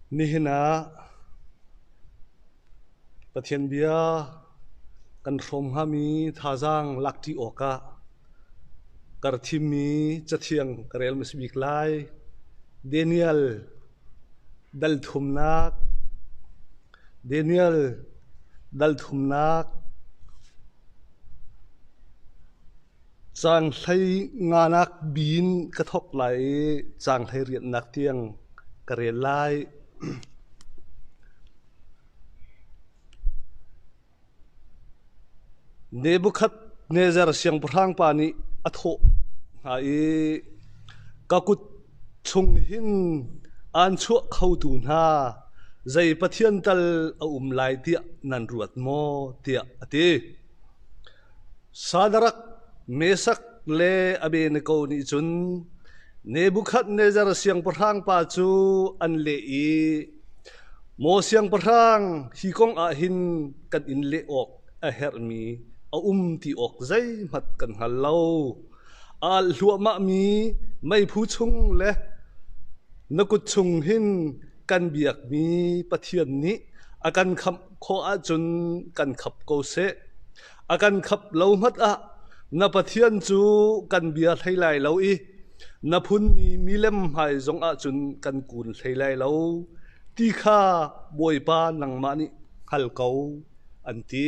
Nihin ah Pathian bia kan hrawm hngami thazaang lak ṭi awkah kar thimmi cathiang ka rel hmasa bik lai. Daniel Dalthumnak Daniel Dalthumnak Caan hlei nganak biin ka thawk lai i caan hlei rianhnak tiang ka rel lai. Nebukhadnezzar siangpahrang pa nih a thawh hna i, Ka kut chung hin aan chuah khotu hna zei pathian tal a um lai tiah nan ruat maw? tiah a ti. Sa na rak mesak le a be na ko nih cun Nebukhadnezzar siangpahrang pa cu an leh i, “Maw siangpahrang, hi kong ah hin kan in leh awk a herhmi a um ti awk zeihmanh kan hngal lo. A alh hluahmahmi meiphu chung le na kut chung hin kan biakmi Pathian nih a kan khamh khawh ahcun kan khap ko seh. A kan khap lo ngat ah na Pathian cu kan bia hlei lai lo i na phunmi milem hmai zong ahcun kan kun hlei lai lo ti kha Bawipa nangmah nih hngal ko an ti.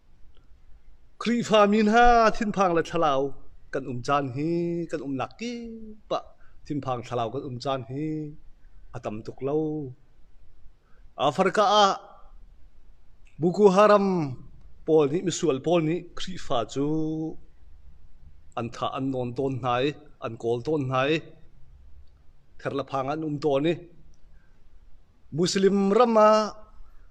Khrihfami hna thinphang le thlalau kan um caan hi kan umnak kip ah thinphang thlalau kan um caan hi a tam tuk lo. Africa ah Boko Haram pawl nih misual pawl nih Khrihfa cu an tha an nawn tawn hna i an kawl tawn hna i ther le phang an um tawn i Muslim ram ah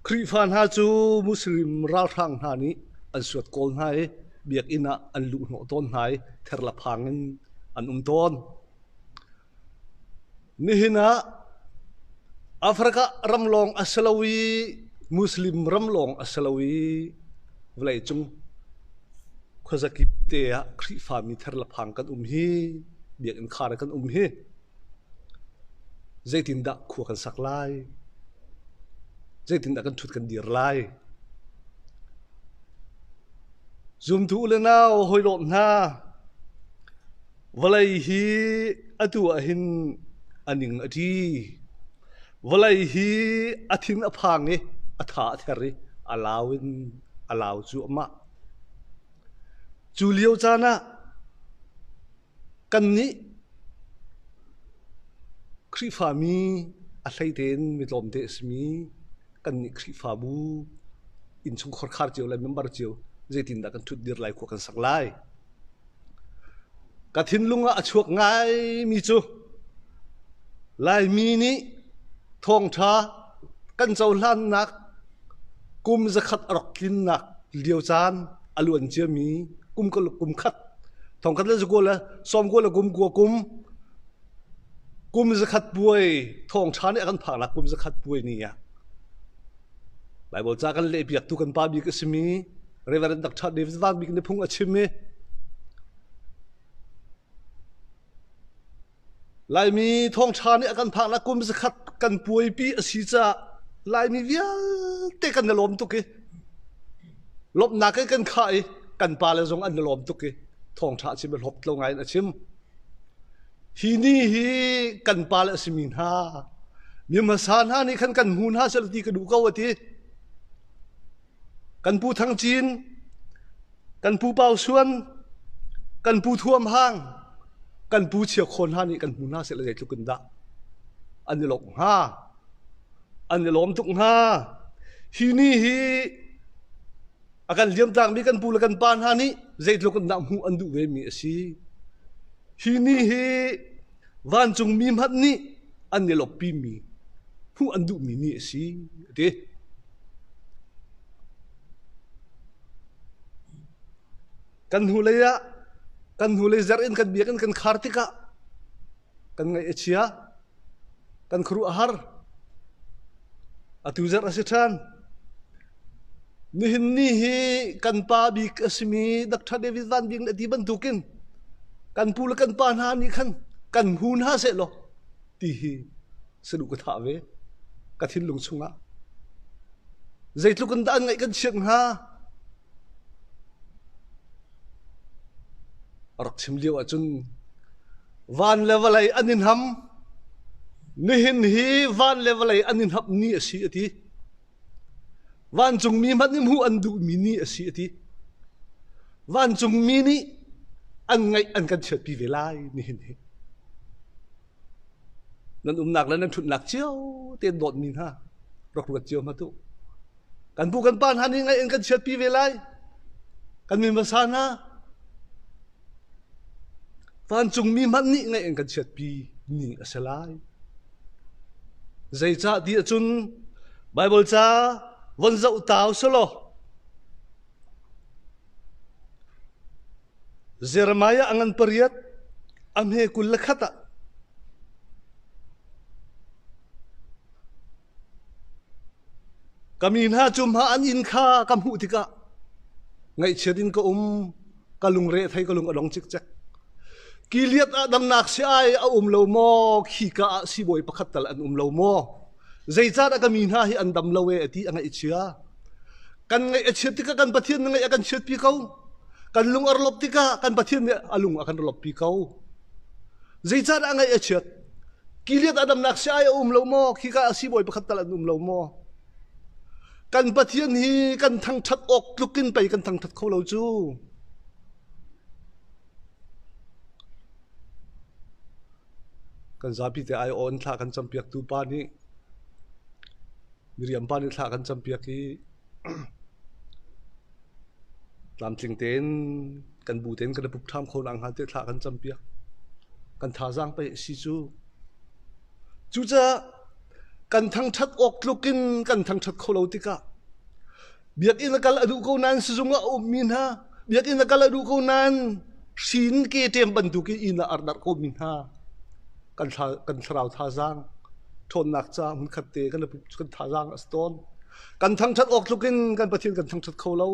Khrihfa hna cu Muslim ralhrang hna nih an suat kawl hna i biakinn ah an luhhnawh tawn hna i therlaphang in an um tawn. Nihin ah Africa ram lawng a si lo i Muslim ram lawng a si lo i vawleicung khuazakip te ah Khrihfami therlaphang kan um hi biakinn khar kan um hi Zeitindah khua kan sak lai? Zeitindah kan ṭhut kan dir lai? Zumtu u le nau hawihlawm hna, vawlei hi atu ah hin a ning a ṭi. Vawlei hi a thin a phang i a tha a ther i a lau in a lau cuahmah. Cu lio caan ah Kannih Khrihfami a hlei tein mi tlawmte a simi kannih Khrihfabu, innchungkhar khar cio le member cio zeitindah kan ṭhutdir lai khua kan sak lai? Ka thinlung ah a chuak ngaimi cu Laimi nih thawngṭha kan cohlannak Kum zakhat a rak tlinnak lio caan a luan ciami kum kul kum khat thongkhat le zakual le sawmkual le kumkua kum kum zakhat puai thawngṭha nih a kan phaknak kum zakhat puai ni ah Baibal ca kan lehpiaktu kan pa bik a simi Reverend Dr. David Van Bik nih phung a chim i Laimi thawngṭha nih a kan phaknak kum zakhat kan puaipi a si caah Laimi vialte kan i lawm tuk i lawmhnak in kan khah i kan pale zong an i lawm tuk i thawngṭha a chim i hlawp lo ngaiin a chim. Hi ni hi kan pale a simi hna mi hmasa hna nih khan kan hmu hna seh law ti ka duh ko a ti. Kan pu Thang Cin, kan pu Pau Suan, kan pu Thuam Hang, kan pu Chia Khawn hna nih kan hmu hna seh le zeitluk in dah an i lawmh hnga, an i lawm tuk hnga. Hi ni hi a kan liamtaakmi kan pu le kan pa hna nih zeitluk in dah hmuh an duh vemi a si. Hi ni hi Vancungmi hmanh nih an i lawppimi hmuh an duhmi ni a si, a ti. Kan hnulei ah, kan hnulei zer in kan biak in kan khar tikah kan ngaih a chia. kan khuaruah a har atu zarh a si ṭhan nihin ni hi kan pa bik a simi Dr. David Van Bing le ti bantukin kan pu le kan pa hna nih khan kan hu hna seh law ti hi saduh ka thah ve ka thinlung chungah zeitluk in dah an ngaih kan chiak hnga rak chim lio ahcun Van le vawlei an i hnam. Nihin hi van le vawlei an i hnap ni a si a ti. Vancungmi hmanh nih hmuh an duhmi ni a si a ti. Vancungmi nih an ngaih an kan chiatpi ve lai nihin hi. Nan umnak le nan ṭhutnak cio tein dawtmi hna rak ruat cio hma tu. Kan pu kan pa hna nih ngaih an kan chiatpi ve lai. Kan min hmasa hna Vancungmi hmanh nih ngaih an kan chiatpi ning a si lai. Zeicah ti ahcun Baibal ca von zoh ta u si law Jeremiah ngan pariat a hme kul le khat ah Ka mi hna cu hma an inn kha ka hmuh tikah ngaihchiat in ka um. Ka lungre thei ka lung a dong cikcek. Ki liat ah damnak si ai a um lo maw? Khi ka ah sibawi pakhat tal an um lo maw? Zeicah dah ka mi hna hi an dam lo e ti a ngaih chia. Kan ngaih a chiat tikah kan Pathian nih ngaih a kan chiat pi ko. Kan lung a rawlop tikah kan Pathian nih a lung a kan rawlop pi ko. Zeicahdah a ngaih a chiat? Kiliat a damnak si-ai a um lo maw? Khika ah siibawi pakhat tal an um lo maw? Kan Pathian hi kan thangṭhat awk tluk in pei kan thangṭhat kho lo cu. Kan zapi te ai awn thlah kan campiaktu pa nih Miriampa nih thla kan campiak i tlamtling tein kan bu tein kan i pup ṭham kho nakhnga tiah thla kan campiak. Kan thazaang pei a si cu. Cucaah kan thangṭhat awk tluk in kan thangṭhat kho lo tikah Biakinn a kal a duh ko nain sizung ah a ummi hna, biakinn a kal a duh ko nain hrin ke ṭem bantukin inn ah ardarh komi hna kan, thla, kan thlarau thazaang ṭhawnnak ca hmunkhat te kan, kan thazaang a si tawn. Kan thangṭhat awk tlukin kan Pathian kan thangṭhat kho lo.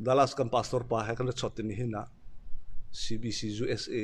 Dallas kan pastor pa he kan ra chawt ni hin ah CBC USA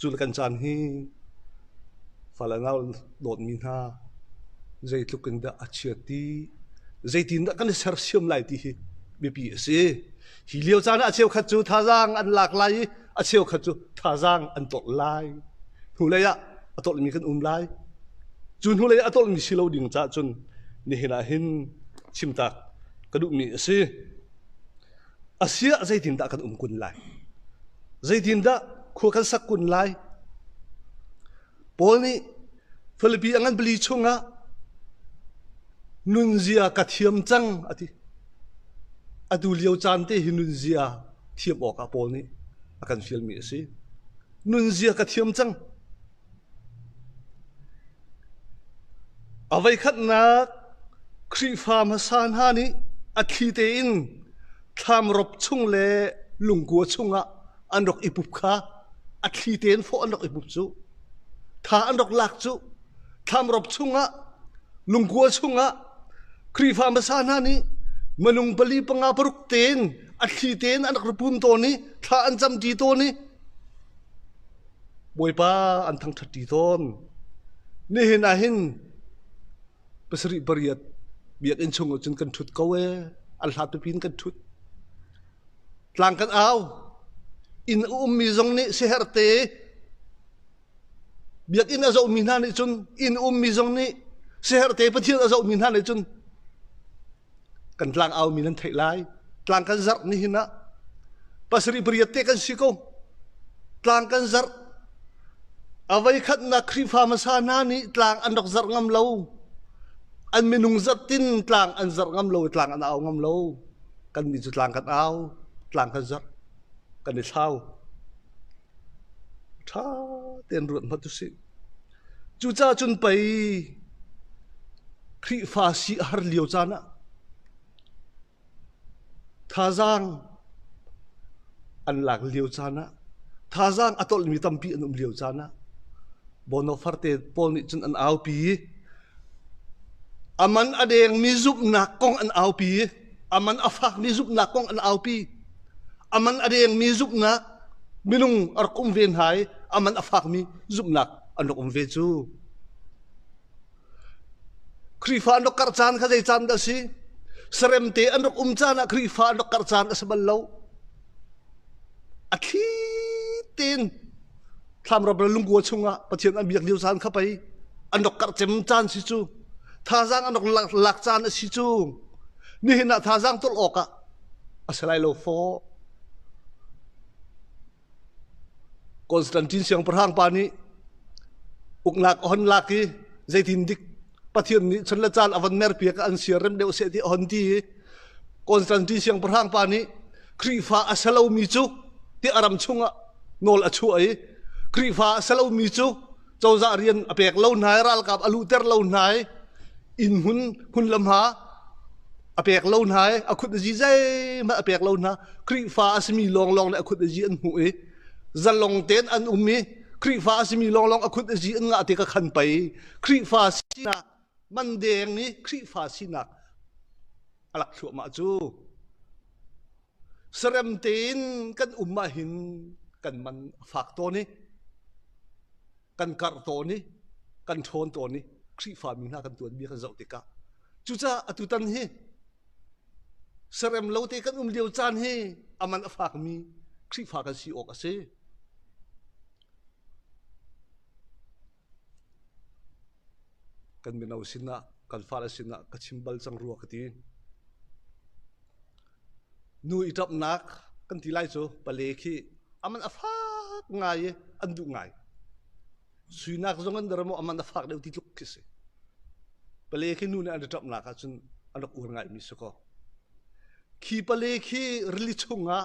Cu le kan caan hi fa le nau dawtmi hna zeitluk in dah a chia ti, zeitindah kan i sersiam lai ti hi biapi a si. Hi lio caan ah a cheukhat cu thazaang an lak lai i a cheukhat cu thazaang an tolh lai. Hnulei ah a tolhmi kan um lai. Cu hnulei a tolhmi si lo ding caah cun nihin ah hin chimtaak ka duhmi a si. Asiah zeitindah kan um kun lai? Zeitindah khua kan sak kun lai? Paul nih Philippi a ngan bali chungah nunzia ka thiam cang a ti. Atu lio caan te hi nunzia thiam awkah Paul nih a kan fialmi a si. Nunzia ka thiam cang. A voikhatnak Khrihfa hmasa hna nih a thli tein thlamrop chung le lungkua chungah an rak i pup kha a thli tein fawh an rak i pup cu. Tha an rak lak cu. Thlamrop chungah, lungkua chungah Khrihfa hmasa hna nih minung pali panga paruk tein a thli tein an rak ra pun tawn i thla an cam ṭi tawn i Bawipa an thangṭhatṭi tawn. Nihin ah hin pasarih pariat biakinn chungah cun kan ṭhut ko ee. An hlat pipi in kan ṭhut. Tlang kan au. Inn a ummi zong nih siaherhte biakinn a zohmi hna nih cun inn a ummi zong nih siaherhte Pathian a zohmi hna nih cun kan tlangau mi nan theih lai. Tlang kan zarh nihin ah pasarih pariat te kan si ko. Tlang kan zarh. Avei khatnak Khrihfa hmasa hna nih tlang an rak zarh ngam lo. An minung zat tin tlang an zarh ngam lo, tlang an au ngam lo. Kan mi cu tlang kan au, tlang kan zarh, kan i thlau. Tha ten ruat hma tu si. Cucaah cun pei Khrihfa si a har lio caan ah thazaang an lak lio caan ah thazaang a tolhmi tampi an um lio caan ah Bonafarte pawl nih cun an aupi i a man a dengmi zumhnak kong an aupi i a man a fakmi zumhnak kong an aupi a man a dengmi zumhnak minung a rak um ve hna i a man a fakmi zumhnak an rak um ve cu Khrihfa an rak karh caan kha zei caan dah si saremte an rak um caan ah Khrihfa an rak karh caan a si bal lo a thli tein thlamram le lungkua chungah pathian an biak lio caan kha pei an rak karh cem caan si cu thazaang an rak lak, lak caan a si cu nihin ah thazaang tolh awk ah a si lai lo fo Constantine siangpahrang pa nih uknak a hon lak i zeitin dik Pathian nih chan le caan a van merpi ka an siar rem deuh seh ti a hon ti i Constantine siang pahrang pa nih Khrihfa a salomi cu ti a ram chungah nawl a chuah i Khrihfa a salomi cu cozah rian a pek lo hna i ralkap a luhter lo hna i inn hmun hmun le hma a pek lo hna i a khut a zi zeihmanh a pek lo hna Khrihfa a simi lawnglawng le a khut a zi an hmuh i zalong tein an um i Khrihfa a simi lawnglawng a khut a zi an ngah ti ka khan pei Khrihfa sinak mandeng nih Khrihfa sinak a lak thluahmah cu sarem tein kan um ahhin kan man a fak tawn i kan karh tawn i kan ṭhawn tawn i Khrihfa mi hna kan tuanmi kan zoh tikah cucaah atutan hi sarem lo te kan um lio caan hi aman a fakmi Khrihfa kan si awk a si. Kan mino sinah, kan fale sinah ka chim bal cang rua ka ti. Nu i ṭapnak kan ti lai cu pale khi a man a fak ngai i an duh ngai. Suinak zong an der maw a man a fak deuh ti tluk khi a si. Pale khi nu nih an i ṭapnak ahcun an rak uar ngaimi si kaw, khi pale khi rili chungah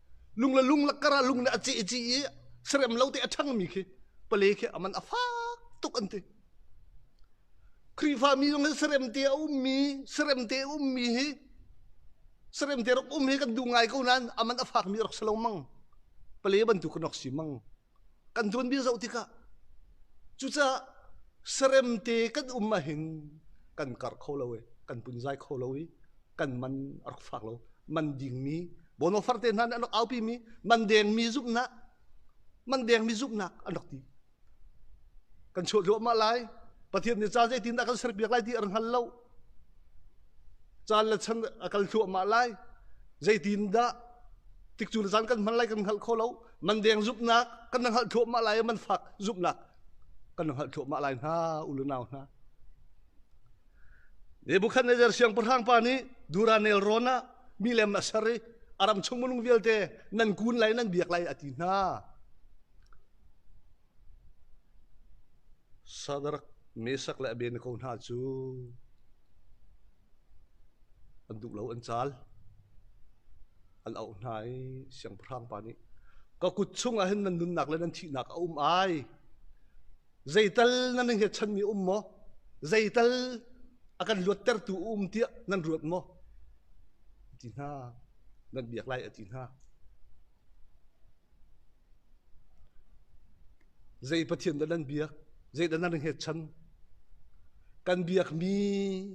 lung le lung lakkar ah lung nih a ceh i cih i serem lo te a ṭhangmi khi pale khi aman a fak tuk an ti Khrihfa mi zong hi serem te a ummi serem te a ummi hi serem te rak um hi kan duh ngai ko nain aman a fakmi rak si lo mang pale bantuk kan rak si mang kan tuanbia zoh tikah cucaah seremte kan um ahhin kan kar kho lo i kan punzai kho lo i kan man a rak fak lo man dingmi bonofarte hna nih an rak aupimi man dengmi zumhnak man dengmi zumhnak an rak ti kan chawt hluahmah lai pathian nih ca zeitin dah kan serpiak lai ti ar hngal lo Caan le chan a kal thluahmah lai. Zeitindah tikcu le caan kan hman lai kan hngalh kho lo. Man deng zumhnak kan na hngalh thluahmah lai i man fak zumhnak kan na hngalh thluahmah lai hna, u le nau hna. Nebuchadnezzar siangpahrang pa nih dura nelrawn ah mi lem a ser i a ram chung minung vialte nan kun lai nan biak lai a ti hna. Sadark mesak le a ven ko hna cu an duh lo an caal. An auh hna i siangpahrang pa nih, "Ka kut chungah hin nan nunnak le nan thihnak a um ai. Zeital nan nan hiachanmi a um maw? Zeital a kan luattertu a um tiah nan ruat maw?" a ti hna. Nan biak lai, a ti hna. Zei Pathian dah nan biak? Zei dah nan hngetchan? Kan biakmi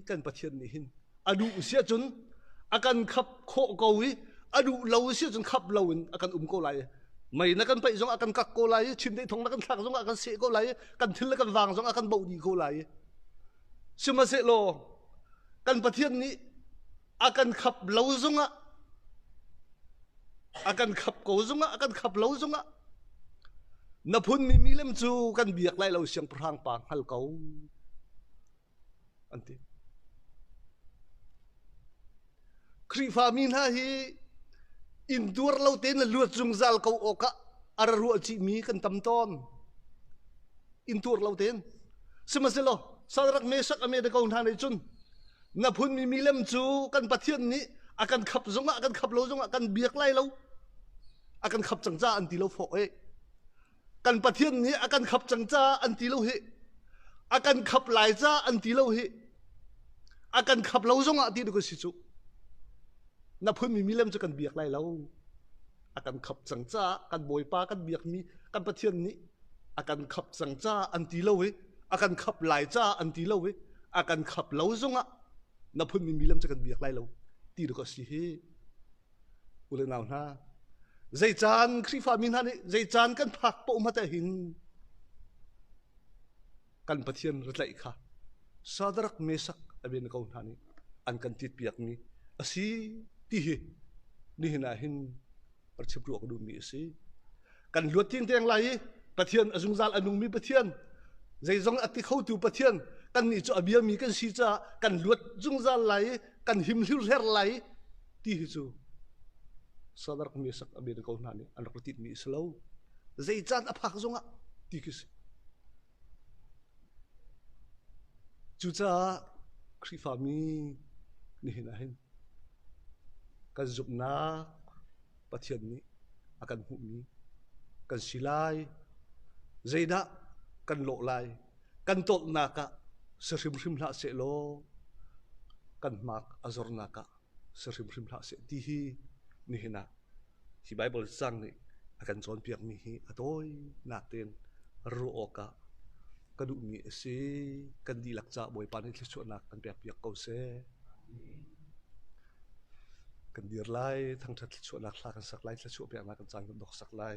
kan Pathian nih hin a duh siah cun a kan khap khawh ko i a duh lo siah cun khap lo in a kan um ko lai. Mei na kan paih zong a kan kak ko lai i chimdei thong na kan thlak zong ah kan seh ko lai i kan thil le kan vang zong ah kan boh dih ko lai. Sihmanhsehlaw kan Pathian nih a kan khap lo zungah a kan khap ko zungah a kan khap lo zungah na phun mi milem cu kan biak lai lo siang prang pa ngal ko an ti Khrihfa mi hna hi in duar lo te na luat zungzal ko awkah ara rual ci mi kan tam ton in tuar lo ten sihmasilaw salrak mesak ame de ko hna nei chun Na phunmi milem cu kan Pathian nih a kan khap zongah kan khap lo zongah kan biak lai lo a kan khap cang ca an ti lo fawh e kan Pathian nih a kan khap cang ca an ti lo hi a kan khap lai ca an ti lo hi a kan khap lo zongah ti duka si cu na phunmi milem cu kan biak lai lo a kan khap cang caah kan bawipa kan biakmi kan pathian nih a kan khap cang caah an ti lo i a kan khap lai caah an ti lo i a kan khap lo zongah na phunmi milam cu kan biak lai lo ti rak a si hi u le nau hna zei caan khrihfa mi hna nih zei caan kan phak paoh ma te hin kan Pathian ritlaih kha Sadrak, Mesak Abednego hna nih an kan tit a si ti hi nihin ah hin rachim ruah ka duhmi a si. Kan luat ting deng lai i Pathian a zungzal a nungmi Pathian zeizong a ti khotu Pathian kan nih cu a biami kan si caah kan luat zungzal lai i kan him hlir her lai ti hi cu Sadark mi sak a men ko hna nih an rak tit mi a si lo. Zei caan a phak zong ah ti khi si. Cucaah Khrihfa mi nihin ah hin kan zumhnak Pathian nih a kan hmuhmi kan si lai. Zeidah kan lawh lai? Kan tawlhnak ah si hrimhrim hlah seh law kan mark a zornak ah si hrimhrim hlah seh ti hi nihin ah hi Baibal cang nih a kan cawnpiak mi hi a tawinak tein ruah awk ah ka duhmi a si. Kan dihlak caah Bawipa nih thluachuahnak kan pekpiak ko seh. Kan dir lai, thangṭhat thluachuahnak hla kan sak lai, thluachuah peknak kan caan kan dok sak lai.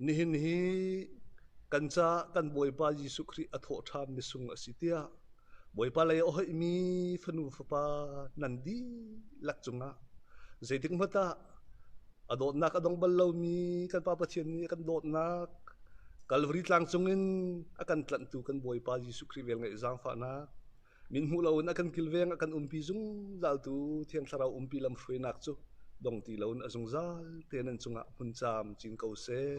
Nihin hi kan ca kan Bawipa Jesuh Khrih a thawhṭhammi sung a si tiah Bawipa lei ohaihmi fanu fapa nan dihlak cungah zeitikhmat ah a dawtnak a dong bal lomi kan Pa Pathian nih a kan dawtnak Kalvari tlang cungin a kan tlanhtu kan Bawipa Jesuh Khrih vel ngeih zaangfahnak Min hmuh loin a kan kilveng a kan umpi zungzaltu Thiang Thlarau umpi lamhruainak cu dong ti loin a zungzal tein an cungah hmun caam cin ko seh.